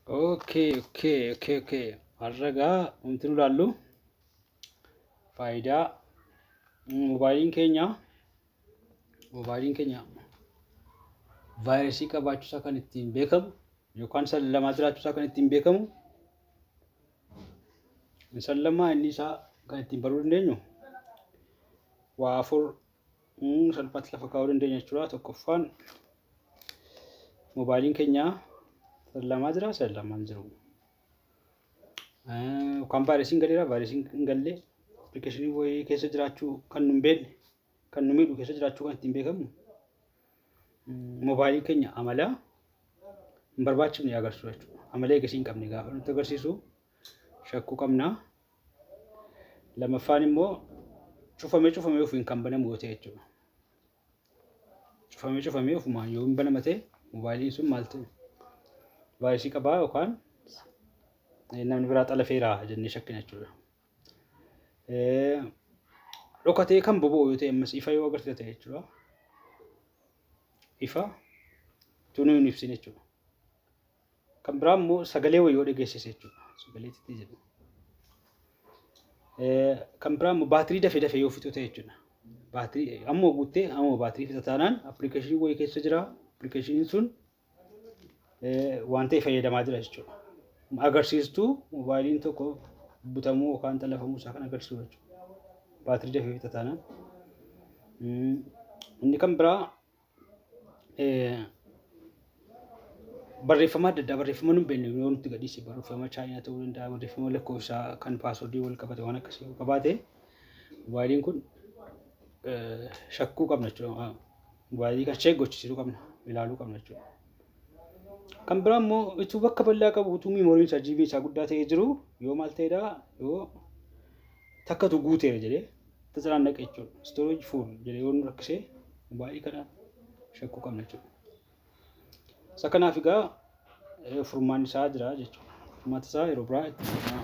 Okay, okay, okay, okay. Har'a gaa wanti nu ilaallu faayidaa moobaayiliin keenya moobaayiliin keenya vaayirasii qabaachuusaa kan ittiin beekamu yookaan sallamaa jiraachuusaa kan ittiin beekamu sallamaa inni isaa kan ittiin baruu dandeenyu waa afur salphaatti lafa kaa'uu dandeenya jechuudha. Tokkoffaan moobaayiliin keenya lamaa jira isa lamaan jiru. Yookaan vaayirasiin galeera vaayirasiin hin galle appilikeeshinii wayii keessa jiraachuu kan nu hin beekne kan nu miidhu keessa jiraachuu kan ittiin beekamu moobaayiliin keenya amala hin barbaachifne agarsiisu jechuudha. Amala eegasii hin qabne gaafa nutti agarsiisu shakku qabna. Lamaffaan immoo cufame cufame ofiin kan banamu yoo ta'e jechuudha. Cufame cufame ofumaan yoo hin banama ta'e moobaayiliin sun maal ta'e vaayirasii qabaa yookaan namni biraa xalafeera jennee shakkina jechuudha. Dhokatee kan boba'u yoo ta'e ammas ifa yoo agarsiisa ta'e jechuudha. Ifa tunuu hin ibsine jechuudha. Kan biraa immoo sagalee wayii yoo dhageessise jechuudha. Sagalee xixiqqaa jedhu. Kan biraa immoo baatirii dafee dafee yoo fixu ta'e jechuudha. Baatirii amma guuttee amma baatirii fixa taanaan appilikeeshinii wayii keessa jira. Appilikeeshiniin sun waan ta'e fayyadamaa jira jechuudha. Agarsiistuu moobaayiliin tokko butamuu yookaan xalafamuu isaa kan agarsiisu jechuudha. Baatirii dafee fixa taanaan. Inni kan biraa barreeffama adda addaa barreeffama nu beekne yoo nutti gadhiise barreeffama chaayinaa ta'uu danda'a barreeffama lakkoofsa kan paaswordii wal qabate waan akkasii yoo qabaate mobaayiliin kun shakkuu qabna jechuudha. Mobaayilii kan ishee gochisiisuu qabna ilaaluu qabna jechuudha. Kan biraa immoo utuu bakka bal'aa qabu utuu miimooriin isaa jiibiin isaa guddaa ta'ee jiru yoo maal ta'edha yoo takkatu guuteera jedhee Tazaraan dhaqa jechuudha. Storage full jedhee yoo nu rakkisee baay'ee kana shakkuu qabna jechuudha. Isa kanaaf egaa eh, furmaanni isaa jira jechuudha. Furmaata isaa yeroo biraa itti fufnaa.